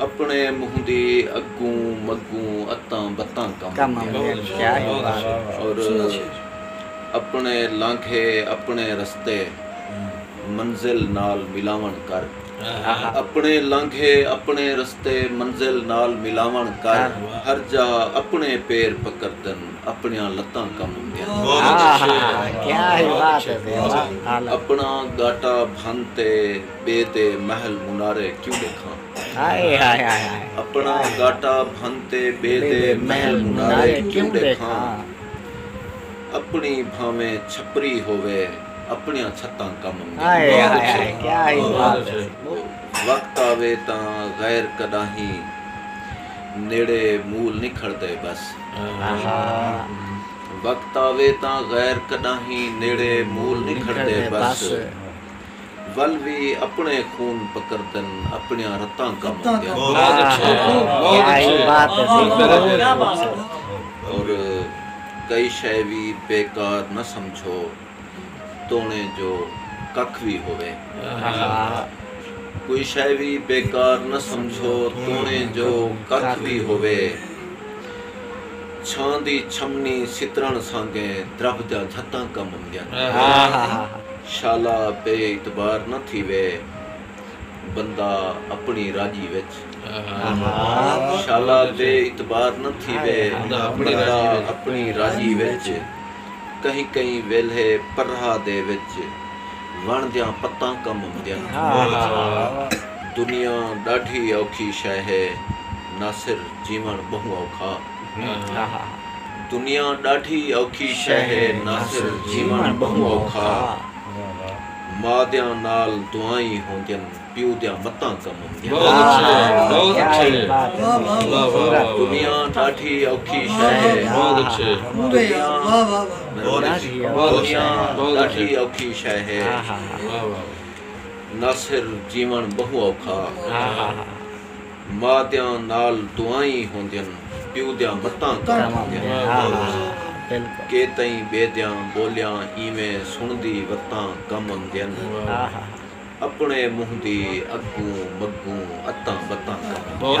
اپݨے مہندی اڳوں مڳوں اتاں بتاں کم آندیاں ہن۔ اپݨے لانگھے اپݨے رستے منزل نال ملاوݨ کر۔ اپݨے لانگھے اپݨے رستے منزل نال ملاوݨ کر۔ ہر جا اپݨے پیر پکردن اپݨیاں لتاں کم اوندیاں ہن۔ اپݨا ڳاٹا بھن تے۔ ٻئے دے محل منارے کیوں ݙیکھاں۔ اپݨا گاٹا بھن تے ٻئے دے محل منارے کیوں ݙیکھاں۔ اپݨی بھانویں چھپری ہووے اپݨیاں چھتاں کم میندین۔ وقت آوے تاں غیر کݙاہیں نیڑے مول نی کھڑدے ٻس۔ وقت آوے تاں غیر کݙاہیں نیڑے مول نی کھڑدے ٻس۔ ول وی اپݨے خون پکردن اپݨیاں رتاں کم آندیاں اور کئی شئے وی بیکار نہ سمجھو توݨے جو ککھ وی ہووے کوئی شئے وی بیکار نہ سمجھو توݨے جو ککھ وی ہووے چھاں دی چھمنی سترݨ سانگے درب دیاں جھتاں کم آندیاں شالا بے اعتبار نہ تھیوے بندہ اپنڑی راجی وچ۔ شالا بے اعتبار نہ تھیوے بندہ اپنڑی راجی وچ کہیں کہیں ویلھے پرہا دے وچ وݨ دیاں پتاں کم اوندیاں دنیا ݙاڈھی اوکھی شے ہے ناصر جیوݨ ٻہوں اوکھا۔ دنیا ݙاڈھی اوکھی شے ہے ناصر جیون بہوں اوکھا ما دیاں نال دعائیں ہوندین پیو دیاں متاں کم اوندین ما دیاں نال دعائیں ہوندین پیو دیاں متاں کم ہوندین بلکل کیتئیں بے دیاں بولیاں ایویں سنڑدی وتاں کم امدین اپنڑے منہ دی اگوں مگوں اتاں بتاں کم امدین۔